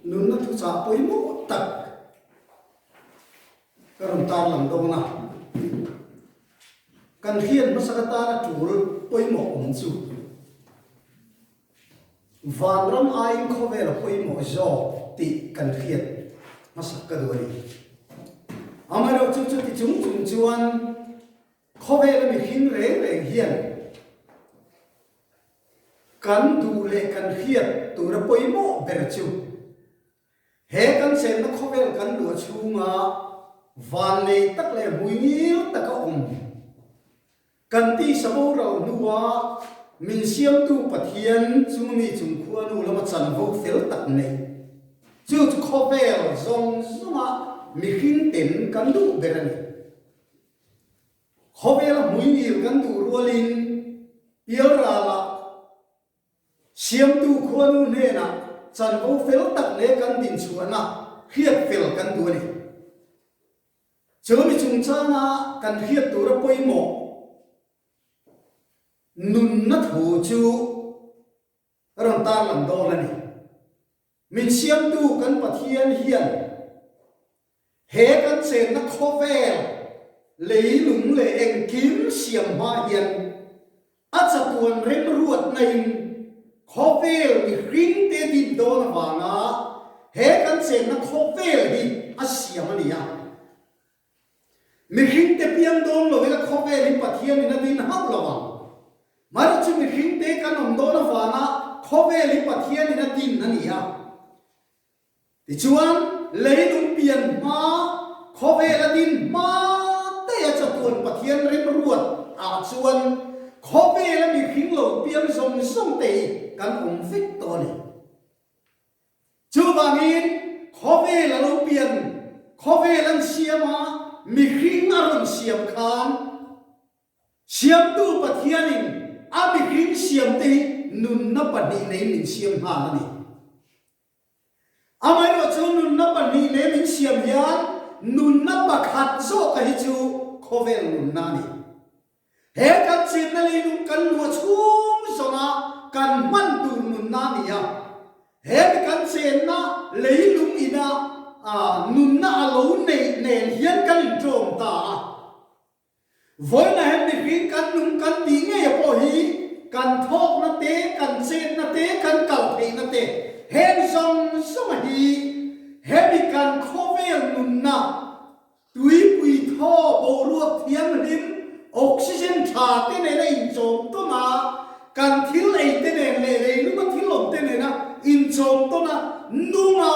Nunna thuchah pawimawh tak ka rawn tarlang dawn a, kan hriat hmasa ka tan a tul pawimawh awm chu Vanram aiin khawvela pawimawh zawk tih kan hriat hmasa ka duh a ni. Amaherawhchu chuti chung chung chuan. Khawvela mihring reng reng hian kan duh leh kan hriat tura pawimawh ber chu he kan chenna khawvel kan luah chhunga vanlei tak leh hmui ngil tak a awm. Kan tisa boral hnua min siamtu Pathian chu mi chungkhua nu lama chanvo fel tak neih chu khawvel zawng zawngah mihringte'n kan duh ber a ni. Khawvela hmuihmir kan duh rualin pial ralah siamtu khuanu hnenah chanvo fel tak leh kan dinchhuahna hriat fel kan duh a ni. Chumi chungchanga kan hriat tura pawimawh nunna thu chu. a rawn tarlang dawn a ni. Min Siamtu kan Pathian hian he kan chenna khawvel leilung leh engkim siam hma hian a chatuan remruatnain khawvel mihringte dik dawn avanga he kan chenna khawvel hi a siam a ni a. Mihring te piang dawng lovin a khawvel hi Pathian in a din hauh lo ang. Mani chu mihring te kan awm dawn avanga khawvel hi Pathian in a din a ni a. Tichuan, leilung pian hma khawvel a din hma teia chatuan Pathian rimruat ah chuan khawvel a mihring lo piang zawng zawng te hi kan awm vek tawh a ni. Chuvangin khawvel a lo pian, khawvel an siam a, mihring a rawn siam khan Siamtu Pathianin a mihring siamte hi nunna pahnih nei min siam hna a ni. Amaherawhchu nunna pahnih nei min siam hian nunna pakhat zawk a hi chu khawvel nunna a ni. He kan chetna leihluk kan luah chhung zawnga kan hman tur nunna a ni a. He mi kan chenna leilung ina nunna a lo neih nen hian kan intawm ta a. Vawiinah hian mihring kan nung kan tih ngeia pawh hi kan thawkna te, kan chetna te, kan kal theihna te heng zawng zawnga hi he mi kan khawvel nunna Tuipui thaw boruak thianghlim, oxygen tha te nena inchawm tawn a, kan thil ei te nen leh leilunga thil awm te nena inchawm tawn a, nunga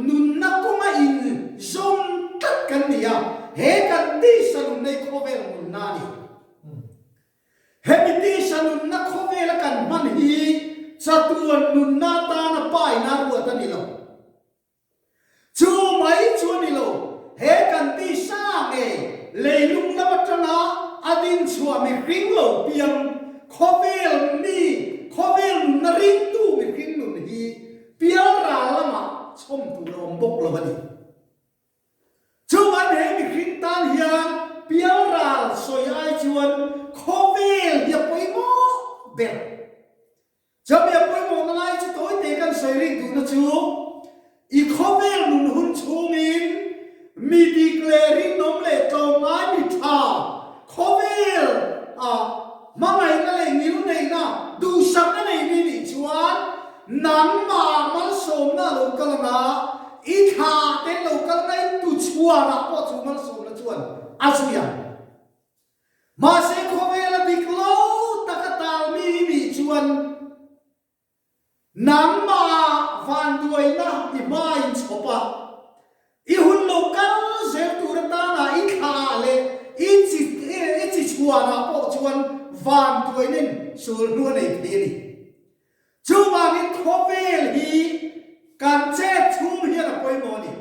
nunna kawnga inzawm tlat kan ni a, he kan tisa nunnei khawvel nunna a ni. Hemi tisa nunna khawvela kan hman hi chatuan nunna tana painak ruat a ni lo. Chu mai chu a ni lo, he kan tih hra nge leilung lam atanga a din chhuah mihring lo piang khawvel mi khawvel nunna ringtu mihring nun hi Pialra lamah chhawm tur a awm bawk lo a ni. Chung an he mihring tan hian Pialra sawi ai chuan khawvel hi a pawimawh ber. Chamiah pawimawhna lai chu tawi te kan sawi rih duhna chu i khawvel nun hun chhungin mi bik leh rinawm leh tlawmngai mi tha khawvel ah hmangaihna leh ngilneihna duhsakna nei mi nih chuan nangmah malsawmna a lo kal ang a, i thla te an lo kal ngai tu chhuanah pawh chu malsawmna chuan a zui ang. Mahse khawvel a dik lo tak a tal mi hi mi chuan nangmah vanduaina i hmain chhawp a, i hun lo kal zel tur atana i thla ah leh i chi i chi chhuan ah pawh chuan vanduaina in sawl hnu a nei phei a ni. Chuvangin khawvel hi kan chet chhung hian a pawimawh a ni.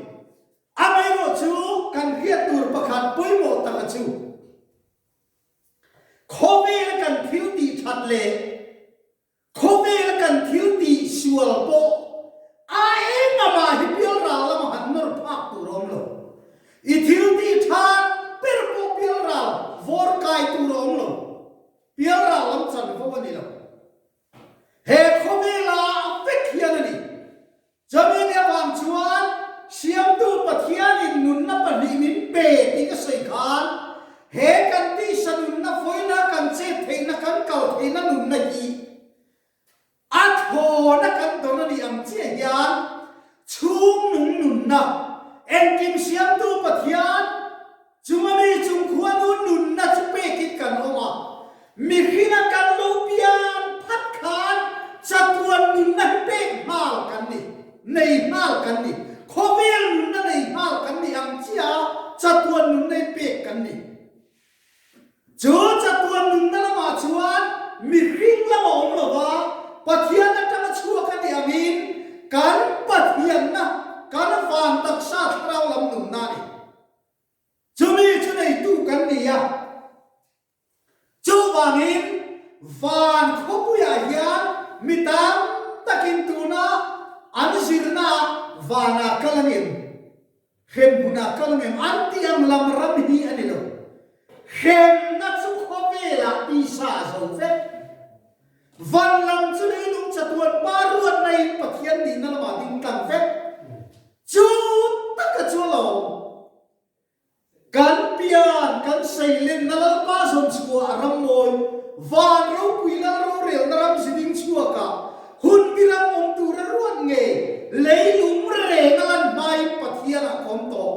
Amaherawh chu kan hriat tur pakhat pawimawh taka chu khawvel kan thil tih that leh khawvel kan thil tih sual pawh a engmah hi bialral lam han nawr phak tur a awm lo. I thil tih that ber pawh bialral vawr kai tur a awm lo. Bialral lam chanvo a ni lo. He khawvel a ang vek hian a ni. Chuvin avang chuan Siamtu Pathianin nunna pahnih min pe tih ka sawi khan, he kan tisa nunna fawina kan chet theihna kan kal theihna nunna hi a thlawna kan don a ni ang chiah hian chhungnung nunna engkim Siamtu Pathian Chuma mi chungkhua nu nunna chu pek in kan awm a, mihring a kal lo pian phat khan chatuan nunna hi pek nghal kan ni, nei nghal kan ni, khawvel nunna nei nghal kan ni ang chia chatuan nunna hi pek kan ni. Chu chatuan nunna lamah chuan mihring lam a awm lova Pathian atang a chhuak a ni angin kan Pathianna, kan Van Taksa thlarau lam nunna a ni. Chumi chu neitu kan ni a. Chuvangin van khawpuiah hian mi tam takin tuna an zirnaah vanah kal a ngem, hremhmunah kal a ngem an tih ang lam ram hi a ni lo. Hremna chu khawvelah tisa zo vek. Van lam chu leilung chatuan pa ruatna in Pathian nihna lamah ding tlang vek. Chu taka chuan a awm. Kan pian, kan sailenna lalpa zawn chhuah a ram mawi, van ropui lal rorelna ram zi ding chhuakah hun miram awm tura ruat ngei leilung renga lan hmain Pathianah khawm tawh.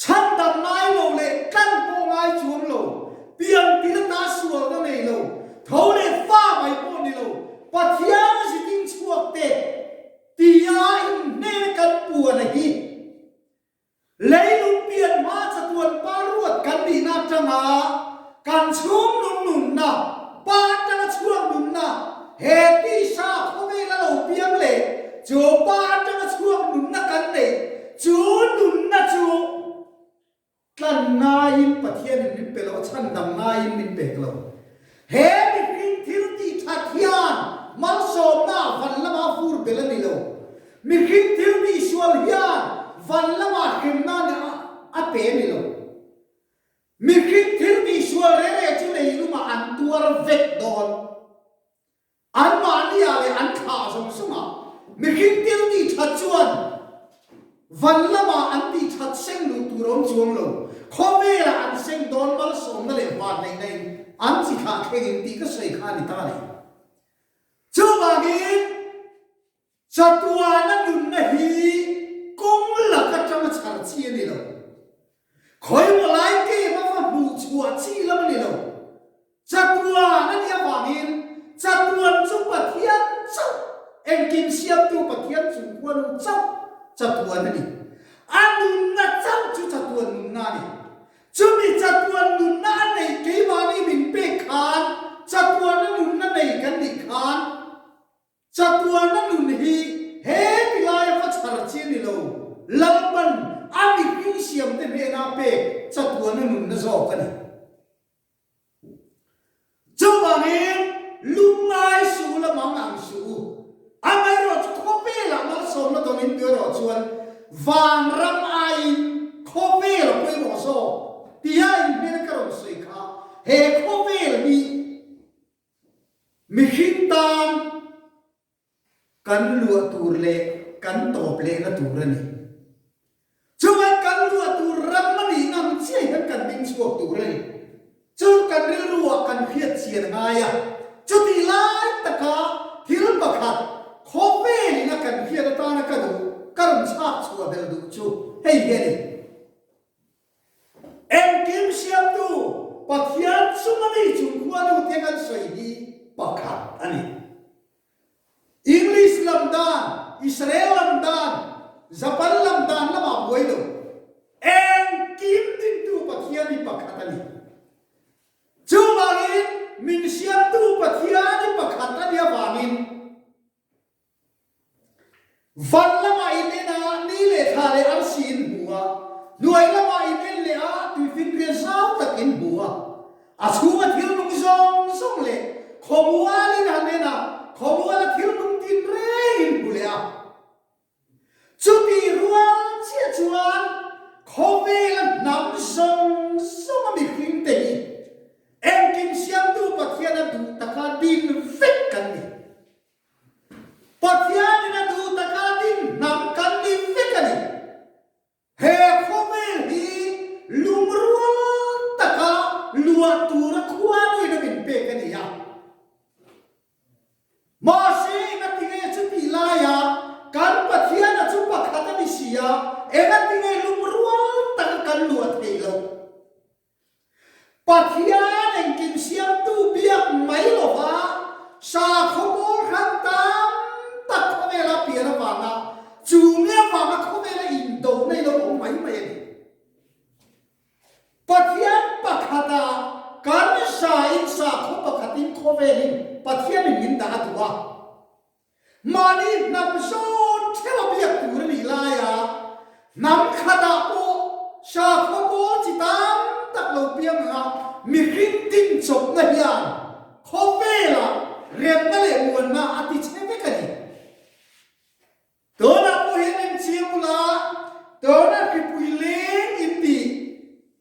Chhak tak ngai lo leh tlan pawh ngai chuang lo, pian ti la ta sual na nei lo, tho leh fa mai pawh ni lo, Pathian a zin in chhuak teh tia in hmel kan puan a hi. Leilung pian hma chatuan pa ruat kan nih nak tang a, Kan chhung lung nunna, Pa atanga chhuak nunna, he tisa khawvel a lo piang leh chu Pa atanga chhuak nunna kan neih chu nunna chu tlan ngaiin Pathian in min pe lo, a chhan dam ngaiin min pek lo. He mihring thil tihthat hian malsawmna van lama fur bel a ni lo. Mihring thil tihsual hian van lama hremna nen a pe a ni lo. Mihring thil misual rele chu leilungah an tuar vek dawn. An mahnia leh an thla zawng sunga mihring thil ti that chuan van lama an ti that seng luh tur awm chuang lo. Khawvela an seng dawn malsawmna leh vahleihna in an chi thlah thlengin tih ka sawi kha a ni ta le. Chuvangin Chatuana nunna hi kawng lak atang a chhar chi a ni lo. Khawimaw lai game a va hmuh chhuah chi lam a ni lo. Chatuan a nih avangin chatuan chu Pathian chauh, engkim siamtu Pathian chung huanu chauh chatuan a ni. A nunna chauh chu chatuan nunna a ni. Chumi chatuan nunna a neih keimahni min pek khan chatuana nunna nei kan nih khan, Chatuana nun hi he tilaia va chhar chi a ni lo. Lalpan a mipui siamte hnena pek chatuana nunna zawk a ni. Chuvangin lungngai suh u lamang ang suh u. Amaherawhchu khawpe lah malsawmna dawngin tu erawh chuan van ram aiin khawpe la pawi rawh zawk tia in hmel ka rawn sawi kha. He khawvel hi. Mihring tan kan luah tur leh kan tawp lehna tur a ni. Chuan kan luah tur ram a nih ang chiah hian kan ding chhuak tur a ni. Chu kan rilru ah kan hriatchian ngai a. Chuti lai taka thil pakhat khaw vel in a kan hriat atana ka duh, ka rawn chhak chhuah belh duh chu hei hi a ni. Engkim siamtu Pathian chunga mi chungkhua nu te kan sawi hi pakhat a ni. English lam dan, Israel lam dan, Japan lam dan lamah buai lo engkim dingtu Pathian hi pakhat a ni. Chuvangin min siamtu Pathian hi pakhat a nih avangin Van lama in en a, ni leh tha leh arsi in bu a, hnuai lama in en leh a, tui finriat zau tak in bu a. A chhunga thil nung zawng zawng leh khawmual in han en a, khawmual a thil nung tin reng in bu leh a. Chutih rual chiah chuan khawvel a hnam zawng zawng a mihring te hi engkim Siamtu Pathian a duh taka din vek kan ni. Pathian in a duh taka dinhnam kan ni vek a ni. He khawvel hi lungrual taka luah tura khualui lo in pek a ni a. Mahse eng a ti nge chuti laiah kan Pathian a chu pakhat a ni sia, eng a ti nge lungrual taka kan luah theih lo? Pathian engkim siamtu biak mai lova sakhaw bawrhran tam tak khawvela pian avanga chûngte avanga khawvela indona i lo awm mai mai a ni. Pathian pakhata kan zain sakhaw pakhatin khawvelin Pathian in min dah a duh a. Mahni hnam zawn theu a biak tur a nih lai a, hnam khatah pawh sakhaw pawl chi tam tak lo piang ang a, mihring dinchawpna hian khawvela remna leh muanna a ti che vek a ni. Tunah pawh hian enchia bulah tuna hripui leng in dih.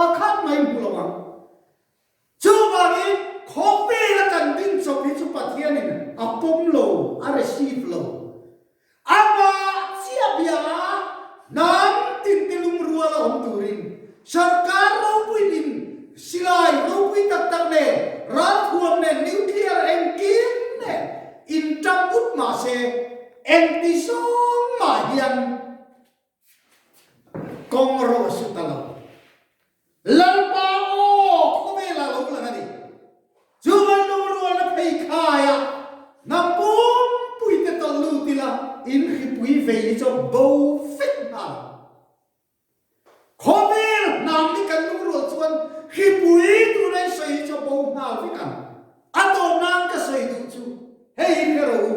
Pakhat mai hmu lo ang. Chuvangin khawvela kan ding chauh hi chu Pathianin a pawm lo, a receive lo. Amah chiahbia a hnam tinte lungrual a awm turin Sarkar ropui ding, silai ropui tak tak nen, ralthuam nen, nuclear engkim nen inṭap vut mahse, enti sawng mah hian, Kawng erawh a suit a lo. Lalpa aw, khawvelah lo lang a ni. Chu van lung rualna phei khaiah hna pumpui te tawlh lut ila in hripui vei ni chuan bo fek hna lo. Khawvel hnam ni kan lung rual chuan hripui tuna i sawi hi chu bo hna vek ang. A dawr nan ka sawi duh chu hei hi hre rawh u.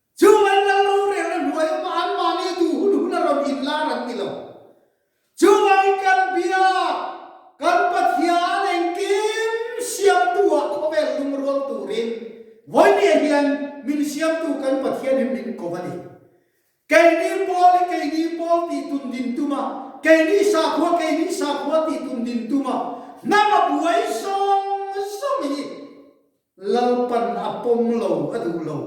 Chung an kal lo reng a hnuai awm a, an mahni duh hun hun a rawn inlar an ni lo. Chuvang kan biak kan Pathian engkim siamtu ah khawvel lung rual turin vawi nia hian min siamtu kan Pathian hi min ko va ni. Keini pawl hi keini pawl tih tun din tum a, keini sakhua keini sakhua tih tun din tum a, hnam a buai zawng zawng hi. Lalpan a pawm lo a duh lo.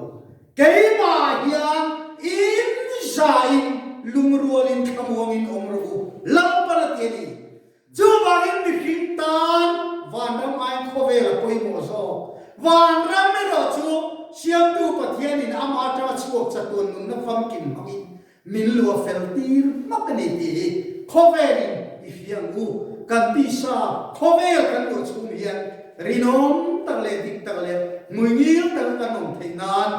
Keimah hian inzaiin lungrualin thlamuangin awm rawh u, Lalpan a ti a ni. Chuvangin mihring tan vanram aiin khawvela pawimawh zawk, vanram erawh chu Siamtu Pathianin amah atanga chhuak chatuan nunna famkim hmangin Min lua fel tir hmak a ni ti hi khawvel in i fiam u, kan tih sa khawvel kan luah chhum hian rinawm tak leh dik tak leh hmuingil tak kan awm theih nan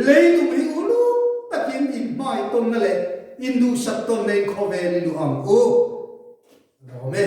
leilung hi uluk takin in hmai tawnna leh in duhsat tawnna in khawvel i luah ang u. Dawm e.